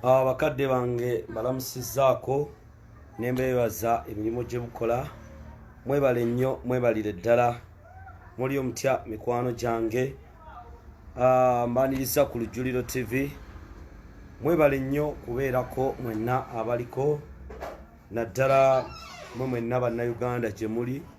Ah, bakadde bange balamusizaako nembeebaza emirimu gye mukola mwebale nnyo mwebalire ddala muli omutya mikwano gyange ah, mbaniriza ku lujjuliro tv mwebale nnyo kubeerako mwenna abaliko naddala mwe mwenna bannayuganda gye muli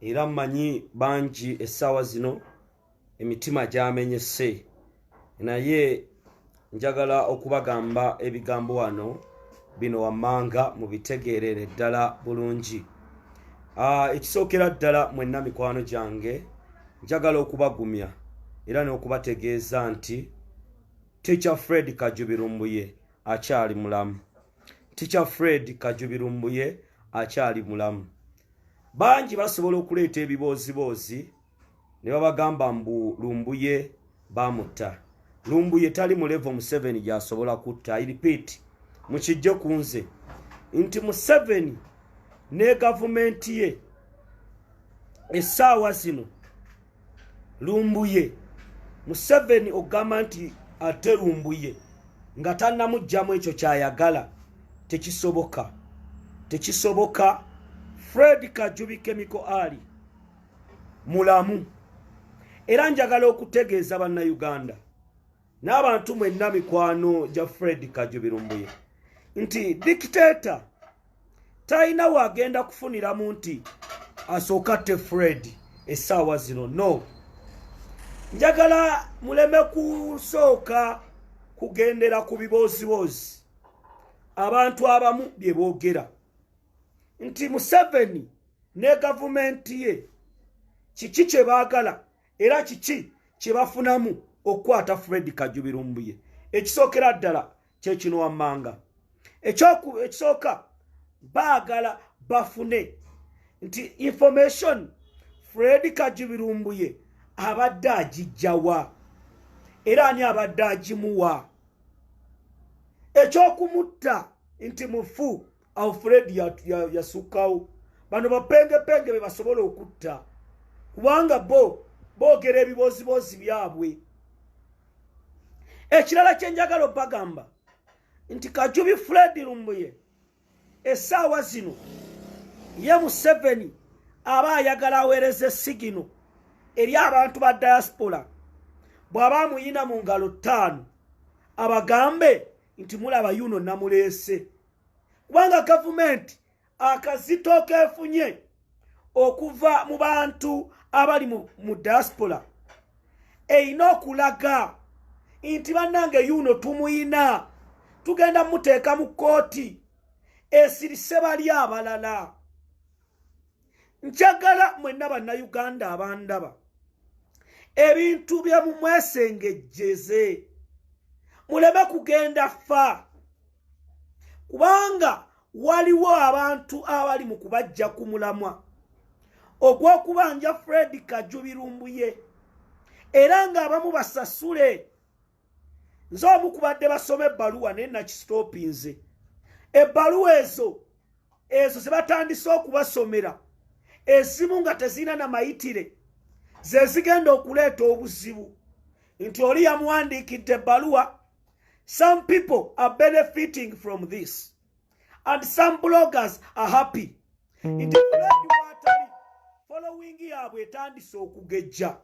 era mmanyi bangi essaawa zino emitima gyamenyese naye njagala okubagamba ebigambo wano bino wammanga mu bitegeerere ddala bulungi ah, ekisookera ddala mwenna mikwano gyange njagala okubagumya era n'okubategeeza nti ticha fred kajubirumbuye akyali mulamu ticha fred kajubirumbuye akyali mulamu bangi basobola okuleeta ebibooziboozi ne babagamba mbu lumbuye bamutta lumbuye tali mu levo museveni gyasobola kutta iripiiti mukijje ku nze nti museveni ne gavumenti ye essaawa zino lumbuye museveni ogamba nti ate lumbuye nga tanamugjamu ekyo kyayagala tekisoboka tekisoboka fred kajubi kemiko ali mulamu era njagala okutegeeza bannauganda n'abantu mwenna mikwano gya fred kajubirumbuye nti dikiteeta talina waagenda kufuniramu nti asooka te fred essaawa zino no njagala muleme kusooka kugendera ku bibooziboozi abantu abamu bye boogera nti museveni ne gavumenti ye kiki kye baagala era kiki kye bafunamu okukwata fred kajubirumbuye ekisookera ddala kyekino wammanga ekisooka baagala bafune nti information fred kajubirumbuye abadde agijjawa era ani abadde agimuwa ekyokumutta nti mufu alfred yasukkawo ya, ya bano bapengepenge be basobola okutta kubanga bo boogera ebibooziboozi byabwe ekirala kyenjagala obagamba nti kajubi fred lumbuye esaawa zino ye museveni aba ayagala aweereza esigino eri abantu ba diaspora bw'aba amuyina mu ngalo ttaano abagambe nti mulaba yuno namuleese kubanga gavumenti akazito kefunye okuva mu bantu abali mu diaspora erina okulaga nti bannange yuuno tumuyina tugenda muteeka mu kkooti esirise bali abalala njagala mwenna bannayuganda abandaba ebintu bye mumwesengejjeze muleme kugenda fa kubanga waliwo abantu abali mu kubajja ku mulamwa ogw'okubanja fred kajubirumbuye era ng'abamu basasule nze omu kubadde basoma ebbaluwa naye nakisitopinze ebbaluwa ezo ezo zebatandise okubasomera ezimu nga tezirina na mayitire zezigenda okuleeta obuzibu nti oli yamuwandiikidde ebbaluwa some people are benefiting from this and some bloggers are happy mm. nti fuledi watali following yaabwe etandise okugejja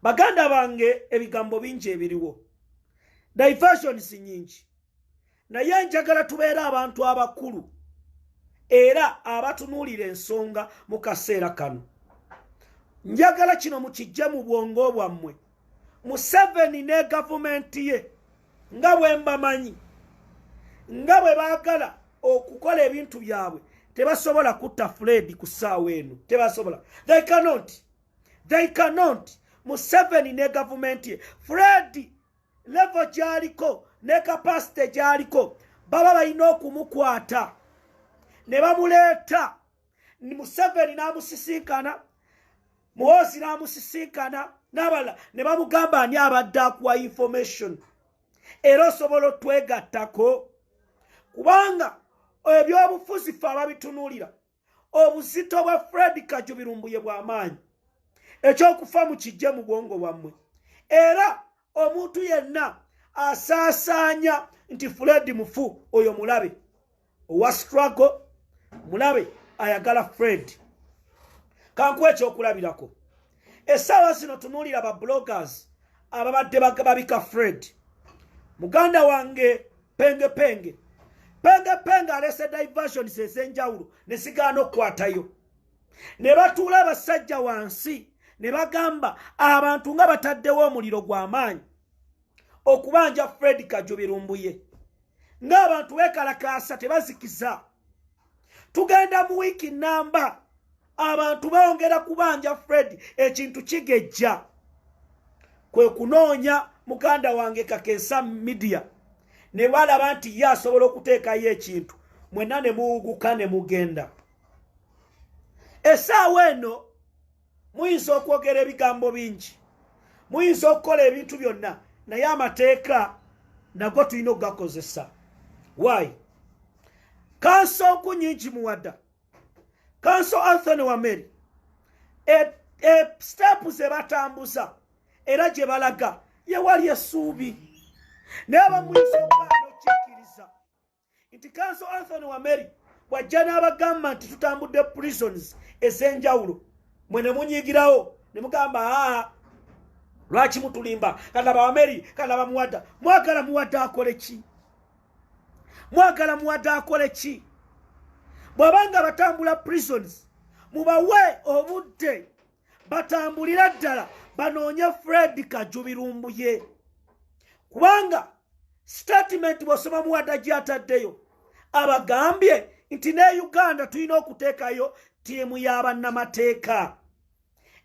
baganda bange ebigambo bingi ebiriwo diversions nyingi naye njagala tubeere abantu abakulu era abatunuulira ensonga mu kaseera kano njagala kino mukijje mu bwongo bwammwe museveni ne gavumenti ye nga bwembamanyi nga bwe baagala okukola ebintu byabwe tebasobola kutta fred ku ssaawa eno tebasobola they cannot they cannot museveni ne gavumenti ye fred levo gyaliko ne kapasite gyaliko baba balina okumukwata ne bamuleeta museveni n'amusisinkana muhoozi n'amusisinkana n'abalala ne bamugamba ani abadde akuwa information era osobola otwegattako kubanga ebyobufuzi fe ababitunuulira obuzito bwa fred kajubirumbuye bw'amaanyi ekyokufa mu kijje mu bwongo bwammwe era omuntu yenna asaasaanya nti fuledi mufu oyo mulabe owa struggle mulabe ayagala fred kankuwa ekyokulabirako essaawa zino tunuulira ba bloggers ababadde babika fred muganda wange pengepenge pengepenge alese diversions ez'enjawulo ne zigaana okukwatayo ne batuula abasajja wansi ne bagamba abantu nga bataddewo omuliro gw'amaanyi okubanja fred kajubi lumbuye ng'abantu bekalakaasa tebazikiza tugenda mu wiiki namba abantu bongera kubanja fred ekintu kigejja kwe kunoonya muganda wange kakensa midiya ne balaba nti ye asobola okuteekayo ekintu mwenna ne muwuguka ne mugenda esaawa eno muyinza okwogera ebigambo bingi muyinza okukola ebintu byonna naye amateeka nago tulina okugakozesa waayi kanso nku nyingi muwada kanso anthony wameri e, e, sitepu ze batambuza era gye balaga yewali esuubi naye bamuyinza okugaana okikkiriza nti kanso anthony wameri bwajja n'abagamba nti tutambudde prisons ez'enjawulo mwe ne munyigirawo ne mugamba aa lwaki mutulimba kalaba wameri kalaba muwada mwagala muwada akole ki mwagala muwada akole ki bw'abanga batambula prisons mubawe obudde batambulira ddala banoonye fred kajubi lumbuye kubanga sitatimenti bwosoma muwada gyataddeyo abagambye nti ne uganda tulina okuteekayo ttiimu y'abannamateeka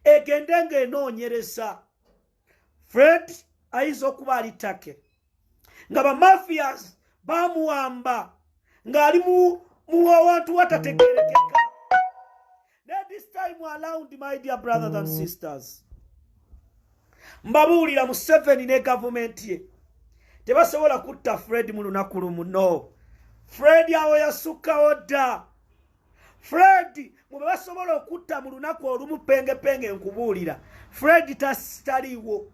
egende ng'enoonyereza fred ayinza okuba ali take nga bamafias bamuwamba ng'ali mu awantu watategerekeka naye this time around my dear brothers and sisters mbabuulira museveni ne gavumenti ye tebasobola kutta fred mu lunaku lumu no fred awo yasukkawo dda fred mu be basobola okutta mu lunaku olumu pengepenge nkubuulira fred taliiwo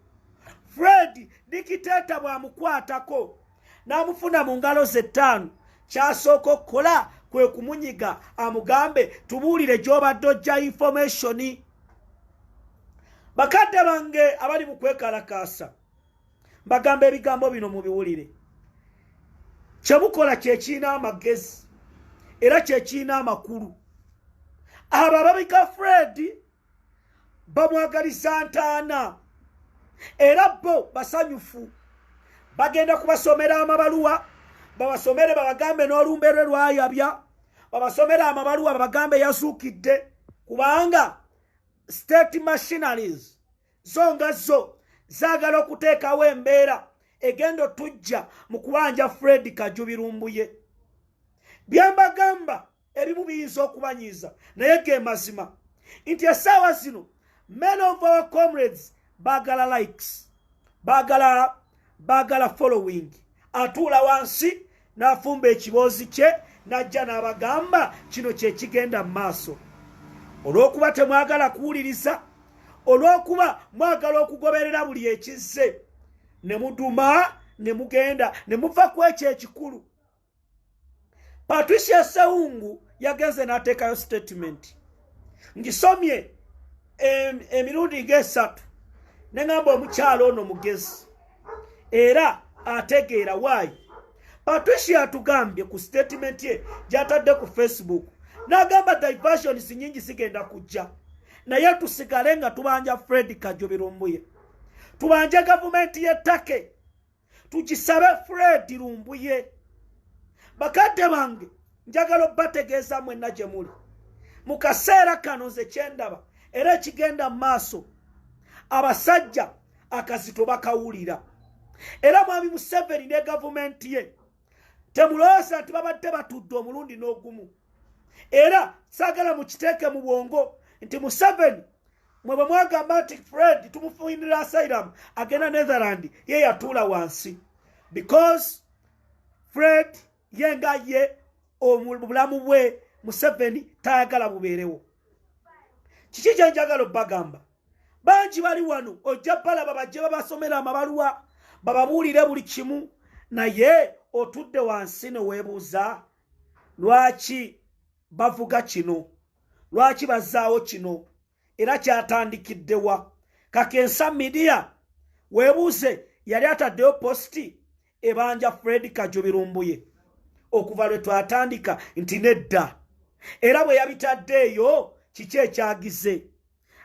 fred dikiteeta bw'amukwatako n'amufuna mu ngalo ze ttaano kyasooka okukola kwe kumunyiga amugambe tubuulire gy'obadde ojja infomationi bakadde bange abali mu kwekalakaasa mbagamba ebigambo bino mubiwulire kyemukola kyekirina amagezi era kyekirina amakulu abo ababika fred bamwagaliza ntaana era bo basanyufu bagenda kubasomera amabaluwa babasomere babagambe n'olumbe lwe lwayabya babasomere amabaluwa babagambe yazuukidde kubanga state machinaries zo nga zo zaagala okuteekawo embeera egenda otujja mu kubanja fred kajubi lumbuye byembagamba ebimu biyinza okubanyiiza naye ge mazima nti essaawa zino men of our comrades baagala likes baagala baagala following atuula wansi n'afumba ekiboozi kye n'ajja n'abagamba kino kye kigenda mu maaso olw'okuba temwagala kuwuliriza olw'okuba mwagala okugoberera buli ekizze ne muduma ne mugenda ne muva ku ekyo ekikulu patricia sewungu yagenze n'ateekayo statement ngisomye emirundi ng'esatu ne ŋamba omukyalo ono mugezi era ategeera waayi patricia atugambye ku statement ye gy'atadde ku facebook n'agamba diversions nyingi zigenda kujja naye tusigale nga tubanja fred kajoberombuye tubanje gavumenti y'ettake tukisabe fred lumbuye bakadde bange njagala obategeeza mwenna gye muli mu kaseera kano nze kyendaba era ekigenda mu maaso abasajja akazito bakawulira era mwami museveni ne gavumenti ye temulowooza nti babadde batudde omulundi n'ogumu era saagala mukiteeke mu bwongo nti museveni mwe bwe mwagamba nti fred tumufuinira asylum agenda netherland ye yatuula wansi because fred ye nga ye obulamu bwe museveni tayagala bubeerewo kiki kyenjagala obbagamba bangi bali wano ojja balaba bajje babasomera amabaluwa bababuulire buli kimu naye otudde wansi neweebuuza lwaki bavuga kino lwaki bazaawo kino era kyatandikiddewa kakensa midiya webuuze yali ataddeyo positi ebanja fred kajubirumbuye okuva lwe twatandika nti nedda era bwe yabitadde eyo kiki ekyagize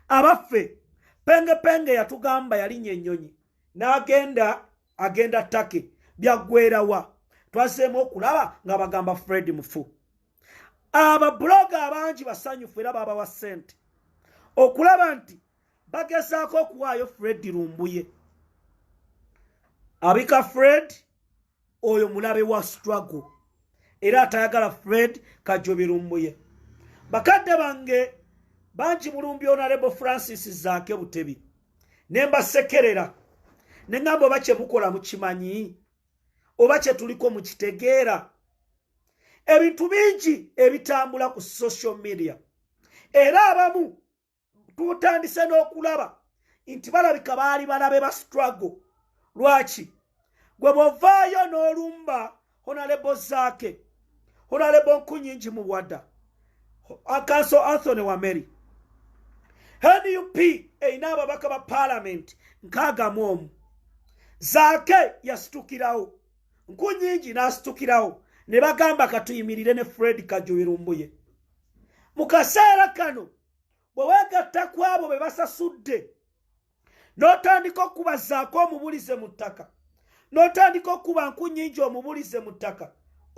abaffe pengepenge yatugamba yalinya ennyonyi n'agenda agenda take byaggwerawa twazeemu okulaba nga bagamba fred mufu ababuloga abangi basanyufu era babawa sente okulaba nti bagezaako okuwaayo fred lumbuye abika fred oyo mulabe wa struggle era atayagala fred kajobi lumbuye bakadde bange bangi mulumbyonalebo francis zaake butebi ne mbasekerera ne ŋŋamba oba kye mukola mukimanyi oba kye tuliko mu kitegeera ebintu bingi ebitambula ku social media era abamu tutandise n'okulaba nti balabika baali balabe ba struggle lwaki gwe bwovaayo n'olumba honalebo zake honalebo nkunyingi muwada akanso anthony wameri nup erina ababaka ba palamenti nkagamu omu zake yasitukirawo nkunyingi n'asitukirawo ne bagamba katuyimirire ne fred kajubirumbuye mu kaseera kano bwe weegatta ku abo be basasudde n'otandika okukubazaako omubulize mu ttaka n'otandika okukuba nku nnyingi omubulize mu ttaka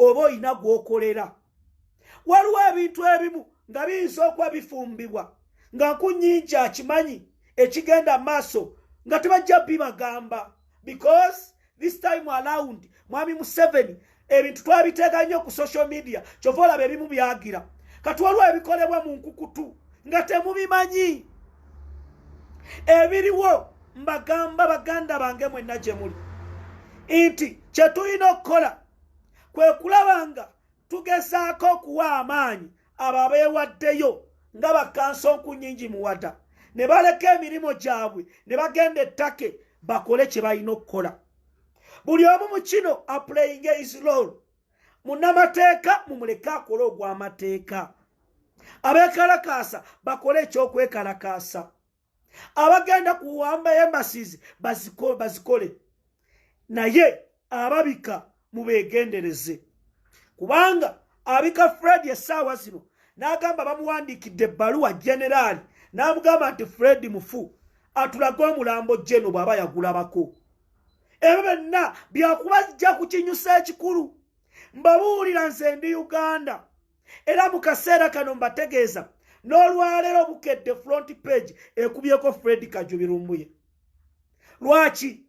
oba olina gw'okolera waliwo ebintu ebimu nga biyinza okuba bifumbibwa nga nku nnyingi akimanyi ekigenda maaso nga tebajja bibagamba because this time around mwami museveni ebintu twabiteeka nnyo ku social media kyova olaba ebimu byagira kati waliwo ebikolebwa mu nkukutu nga temubimanyi ebiriwo mbagamba baganda bange mwenna gye muli nti kye tulina okukola kwe kulaba nga tugezaako okuwa amaanyi abo abeewaddeyo nga bakansa onkunyingi muwada ne baleka emirimu gyabwe ne bagenda ettake bakole kye balina okukola buli omu mu kino aplayinga isrol munamateeka mumuleke akole ogw'amateeka abeekalakaasa bakole ekyokwekalakaasa abagenda kuwamba embassies bazikole naye ababika mubegendereze kubanga abika fred essaawa zino n'agamba bamuwandiikidde ebbaluwa generaali n'amugamba nti fred mufu atulage omulambo jeno bw'aba yagulabako ebyo byonna byakubajja ku kinyusa ekikulu mbabuulira nze ndi uganda era mu kaseera kano mbategeeza n'olwaleero bukedde front page ekubyeko fred kajubi lumbuye lwaki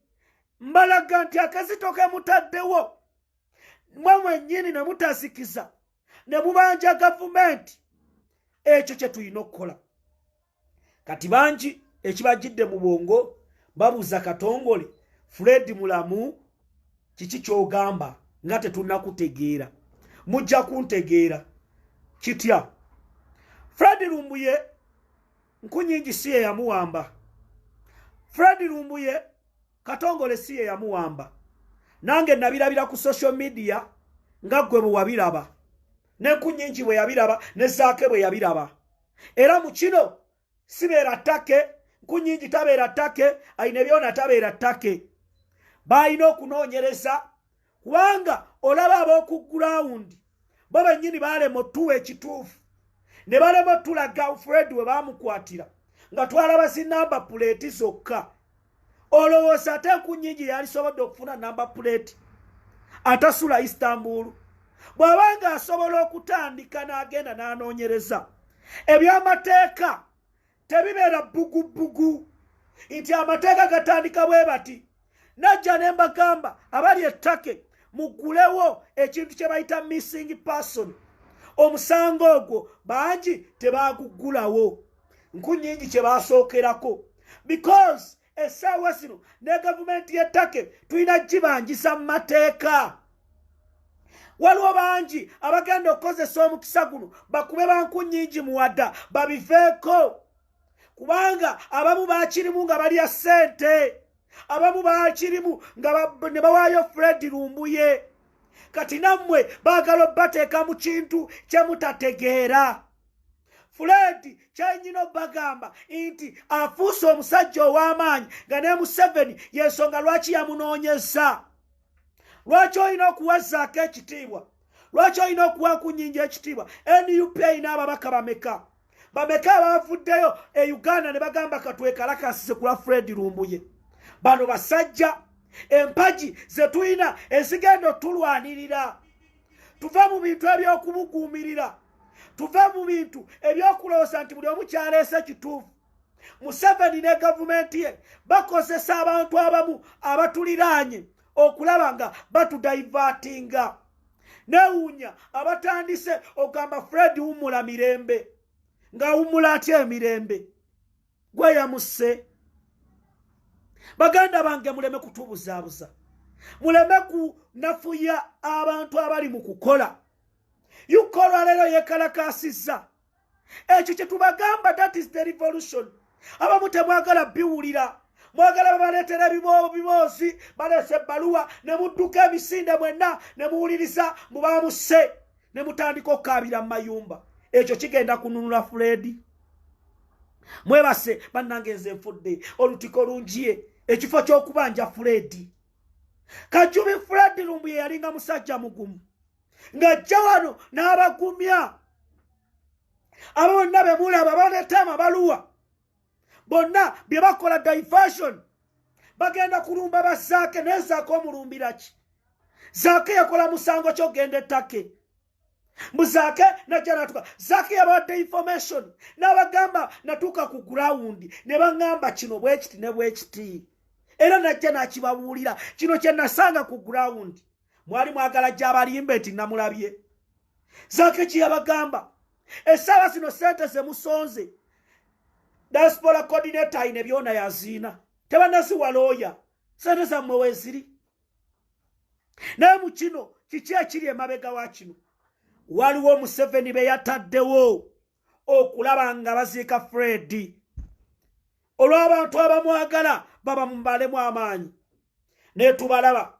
mbalaga nti akazito kemutaddewo mwe mwennyini ne mutasikiza ne mubanja gavumenti ekyo kye tulina okukola kati bangi ekibajjidde mu bwongo babuuza katongole fred mulamu kiki kyogamba nga tetunakutegeera mujja kuntegeera kitya fred lumbuye nkunyingi si yeyamuwamba fred lumbuye katongole si yeyamuwamba nange nabirabira ku social media nga ggwe bwe wabiraba nenkunyingi bwe yabiraba ne zaake bwe yabiraba era mu kino sibeera ttake nkunyingi tabeera ttake ayina ebyona tabeera ttake baalina okunoonyereza kubanga olaba ab'oku gurawundi bo bennyini baalema otuwa ekituufu ne balema otulaga fred we baamukwatira nga twalaba zinamba puleeti zokka olowooza ate enku nyingi yalisobodde okufuna namba puleeti atasula istanbulu bw'aba nga asobola okutandika n'agenda n'anoonyereza eby'amateeka tebibeera bbugubugu nti amateeka gatandika bwe bati najja ne mbagamba abali ettake mugulewo ekintu kye bayita missing person omusango ogwo bangi tebaguggulawo nkunyingi kye baasookerako because essaawa zino ne gavumenti y'ettake tulina gibanjisa mu mateeka waliwo bangi abagenda okukozesa omukisa guno bakube bankunyingi muwada babiveeko kubanga abamu bakirimu nga balya ssente abamu bakirimu nga ne bawaayo fred lumbuye kati nammwe baagala obbateeka mu kintu kye mutategeera fuledi kyenyina obagamba nti afuuse omusajja ow'amaanyi nga ne museveni yensonga lwaki yamunoonyeza lwaki olina okuwazaako ekitiibwa lwaki olina okuwa kunyinja ekitiibwa nup erina ababaka bameka bameka abavuddeyo e uganda ne bagamba katwekalakasize kulwa fred lumbuye bano basajja empagi zetulina ezigenda otulwanirira tuva mu bintu eby'okubuguumirira tuve mu bintu ebyokulowooza nti buli omu kyaleese kituufu museveni ne gavumenti ye bakozesa abantu abamu abatuliraanye okulaba nga batudaivatinga newuunya abatandise okugamba fred wumula mirembe nga wumula atya emirembe gweyamusse baganda bange muleme kutubuzaabuza muleme kunafuya abantu abali mu kukola yuka olwaleero yekalakaasizza ekyo kye tubagamba that is the revolution abamu temwagala biwulira mwagala babaleetera ebiboozi baleese ebbaluwa ne mudduka emisinde mwenna ne muwuliriza mu bamuse ne mutandika okukaabira mu mayumba ekyo kigenda kununula fuledi mwebase bannange nze nfudde olutiko lungiye ekifo ky'okubanja fuledi kajumi fuledi lumbuye yalinga musajja mugumu ng'ajja wano n'abagumya abo bonna be mulaba baleeta amabaluwa bonna bye bakola diversion bagenda kulumba bazaake naye zaake omulumbira ki zaake yakola musango kyogenda ettake mbu zaake najja natuka zaake yabawadde information n'abagamba natuuka ku gurawundi ne baŋŋamba kino bwekiti ne bwekiti era najja nakibabuulira kino kye nasanga ku gurawundi mwali mwagala gyabalimbe nti namulabye zake kyeyabagamba esaawa zino sente zemusonze diaspora coordinator ayina byona yaziina tebanaziwa looya sente zammwe weziri naye mu kino kiki ekiri emabega wa kino waliwo museveni be yataddewo okulaba nga baziika fredi olw'abantu abamwagala baba mubalemu amaanyi naye tubalaba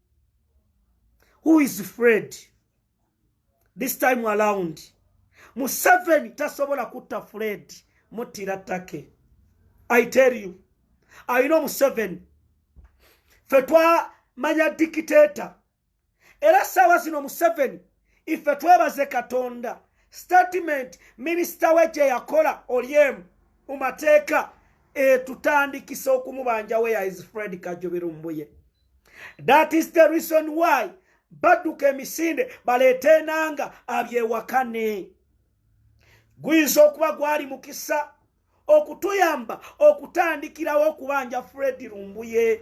who is fred this time around museveni tasobola kutta fred muttira take i tell you i know museveni fe twamanya dikiteta era saawa zino museveni ife twebaze katonda statement minisita we gye yakola olyemu mu mateeka etutandikisa okumubanja weya is fred kajubirumbuye that is the reason why badduka emisinde baleeta enanga abyewakane guyinza okuba gwali mukisa okutuyamba okutandikirawo okubanja fred lumbuye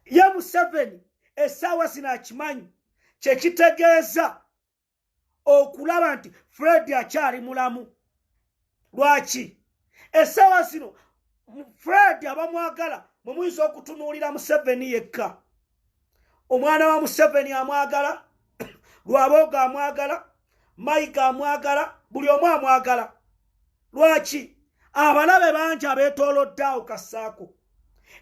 ye museveni esaawa zino akimanyi kyekitegeeza okulaba nti fred akyali mulamu lwaki esaawa zino fred abamwagala mwemuyinza okutunuulira museveni yekka omwana wa museveni amwagala lwabooga amwagala mike amwagala buli omu amwagala lwaki abalabe bangi abeetoloddaawo kasaako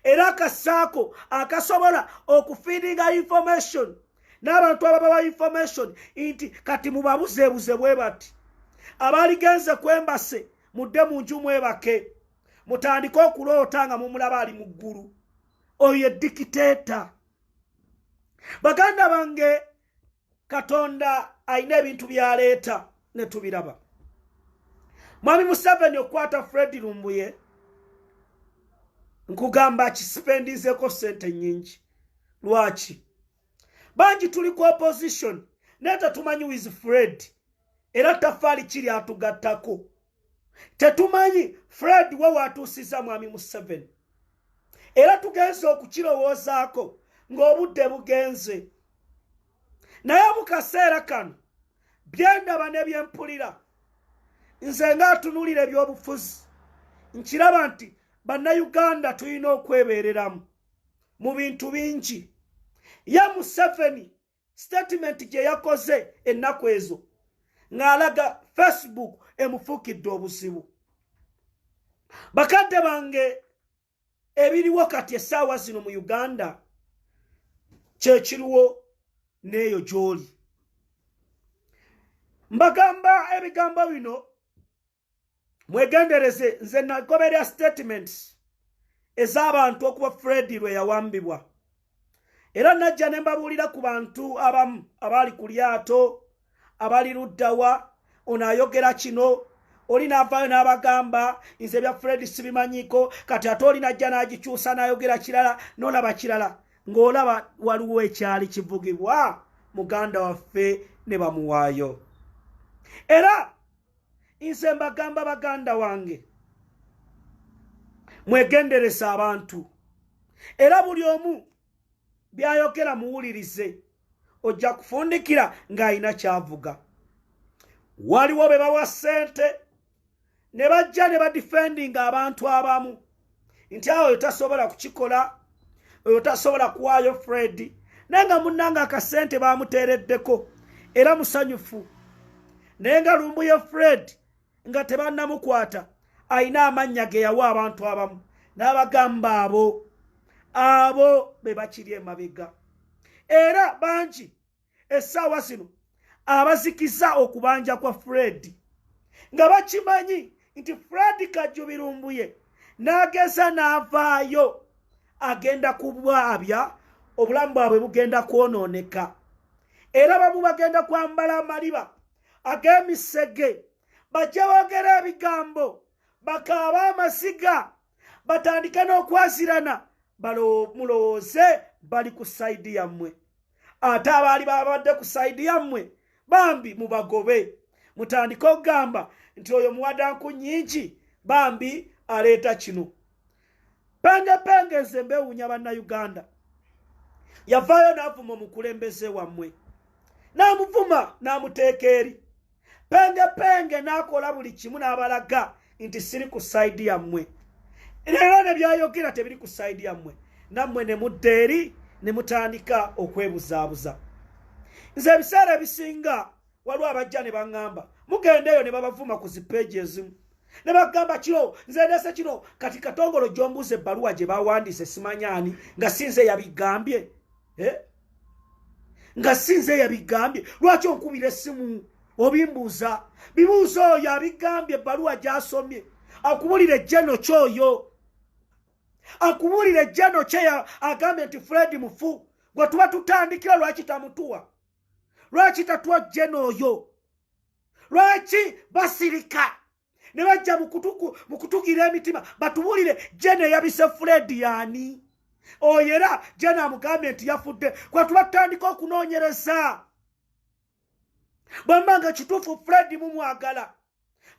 era kasaako akasobola okufiidinga information n'abantu ababawa information nti kati mubabuzeebuze bwe bati abaligenze kwembase mudde mu nju mwebake mutandike okuloota nga mumulaba ali mu ggulu oyo edikiteeta baganda bange katonda alina ebintu byaleeta ne tubiraba mwami museveni okukwata fred lumbuye nkugamba kisipendizeko sente nyingi lwaki bangi tuli ku opposition naye tetumanyi wiz fred era tafaali kiri atugattako tetumanyi fred we watuusiza mwami museveni era tugenze okukirowoozaako ng'obudde bugenze naye mu kaseera kano byendaba ne byempulira nze ng'atunulira ebyobufuzi nkiraba nti bannayuganda tulina okwebeereramu mu bintu bingi ye museveni sitatimenti gye yakoze ennaku ezo ng'alaga facebook emufuukidde obuzibu bakadde bange ebiriwo kati essaawa zino mu uganda kyekiriwo n'eyo gy'oli mbagamba ebigambo bino mwegendereze nze nagoberera statements ez'abantu okuba fredi lwe yawambibwa era najja ne mbabuulira ku bantu abamu abaali ku lyato abali luddawa ono ayogera kino oli navaayo n'abagamba nze ebya fredi sibimanyiko kati ate oli najja n'agikyusa n'ayogera kirala nolaba kirala ng'olaba waliwo ekyali kivugibwa muganda waffe ne bamuwaayo era nze mbagamba baganda wange mwegenderese abantu era buli omu byayogera muwulirize ojja kufundikira ng'alina kyavuga waliwo be bawa ssente ne bajja ne badifendinga abantu abamu nti awo oyo tasobola kukikola oyo tasobola kuwaayo fred naye nga munnanga akasente bamuteereddeko era musanyufu naye nga lumbuye fred nga tebannamukwata alina amannya ge yawa abantu abamu n'abagamba abo abo be bakiri emabega era bangi essaawa zino abazikiza okubanja kwa fred nga bakimanyi nti fred kajubirumbuye n'ageza n'avaayo agenda kubwabya obulamu bwabwe bugenda kwonooneka era bamu bagenda kwambala amaliba ag'emisege bajja boogera ebigambo bakaaba amasiga batandike n'okwazirana mulowooze bali ku sayidi yammwe ate abaali babadde ku sayidi yammwe bambi mubagobe mutandike okugamba nti oyo muwadanku nyingi bambi aleeta kino pengepenge nze mbewunya bannayuganda yavaayo n'avuma omukulembeze wammwe n'amuvuma n'amuteeka eri penge penge n'akola buli kimu n'abalaga nti siri ku sayidi yammwe era ne byayogera tebiri ku sayidi yammwe nammwe ne mudda eri ne mutandika okwebuzaabuza nze ebiseera ebisinga waliwo abajja ne baŋŋamba mugenda eyo ne babavuma ku zipeegi ezimu ne bagamba kino nze ndeese kino kati katongolo gy'ombuuza ebbaluwa gye bawandiise simanyaani nga sinze yabigambye eh? nga sinze yabigambye lwaki onkubira essimu obimbuuza bibuuza oyo abigambye ebbaluwa gyasomye akubulira ejjeno kyoyo akubulira ejjeno kye agambye nti fred mufu gwe tuba tutandikira lwaki tamutuwa lwaki tatuwa jjeno oyo lwaki basirika ne bajja mu kutugira emitima batubuulire jena eyabise fuledi yaani oyo era jena amugambye nti yafudde kwetuba tutandika okunoonyereza bwemba nga kituufu fuledi mumwagala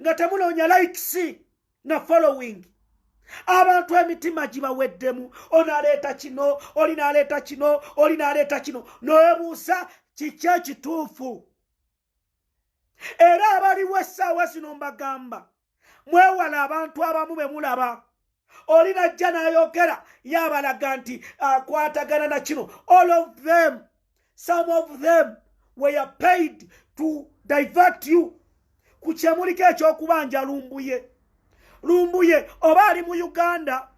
nga temunoonya likes na following abantu emitima gibaweddemu onaleeta kino oli naleeta kino oli naleeta kino noebuusa kiki ekituufu era abaliwo essaawa zino mbagamba mwewala abantu abamu be mulaba oli najja n'ayogera yabalaga nti akwatagana na kino all of them some of them were paid to divert you ku kyemuliko ekyokubanja lumbuye lumbuye oba ali mu uganda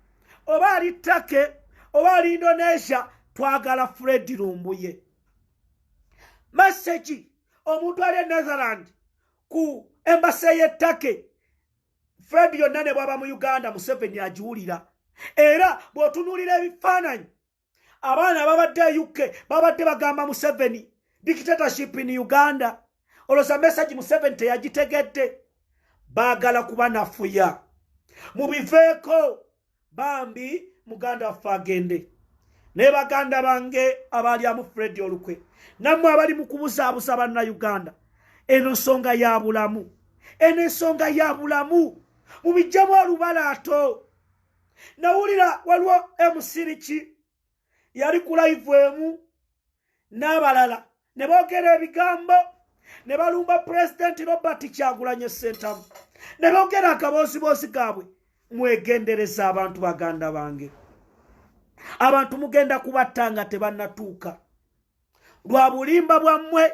oba ali take oba ali indonesia twagala fredi lumbuye masegi omuntu ali e netherland ku embase y'ettake fred yonna ne bwaba mu uganda museveni agiwulira era bw'otunuulira ebifaananyi abaana ababadde e uk babadde bagamba museveni dictatorship in uganda olwoza mesagi museveni teyagitegedde baagala kuba nafuya mubiveeko bambi muganda waffe agende naye baganda bange abaalyamu fredi olukwe nammwe abali mu kubuzaabuza banna uganda eno nsonga ya bulamu eno ensonga ya bulamu mubijjamu olubalato nawulira waliwo emusiriki yali ku live emu n'abalala ne boogera ebigambo ne balumba pulezidenti robert kyagulanye sentamu ne boogera akabooziboozi gaabwe mwegendereza abantu baganda bange abantu mugenda kubatta nga tebannatuuka lwa bulimba bwammwe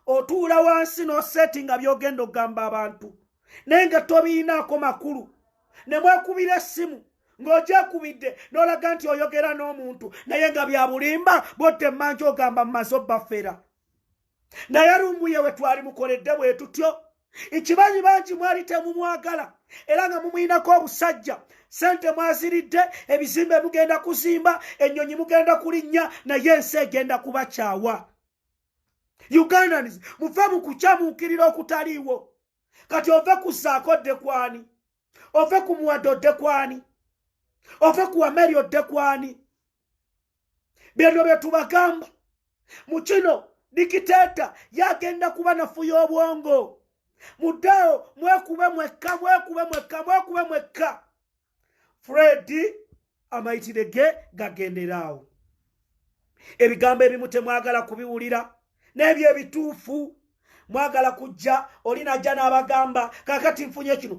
otuula wansi n'oseeti nga byogenda okugamba abantu naye nga tobiyinaako makulu ne mwekubira essimu ng'ogyekubidde n'olaga nti oyogera n'omuntu naye nga bya bulimba bwotte mmanji ogamba mu maso bafera naye lumbuye we twali mukoledde bwe tutyo ekibanyi bangi mwali temumwagala era nga mumuyinako obusajja sente mwaziridde ebizimbe mugenda kuzimba ennyonyi mugenda kulinnya naye ensi egenda kubakyawa ugandans muve mu kukyamuukirira okutaliiwo kati ove ku saako dde kwani ove ku muwado dde kwani ove ku ameri odde kwani byeno bye tubagamba mu kino dikiteeta yagenda kuba nafuya obwongo muddeewo mwekube mwekka mwekube mwekka mwekube mwekka fredi amayitire ge gagenderaawo ebigambo ebimu temwagala kubiwulira n'ebyo ebituufu mwagala kujja olinajja n'abagamba kakati nfunye kino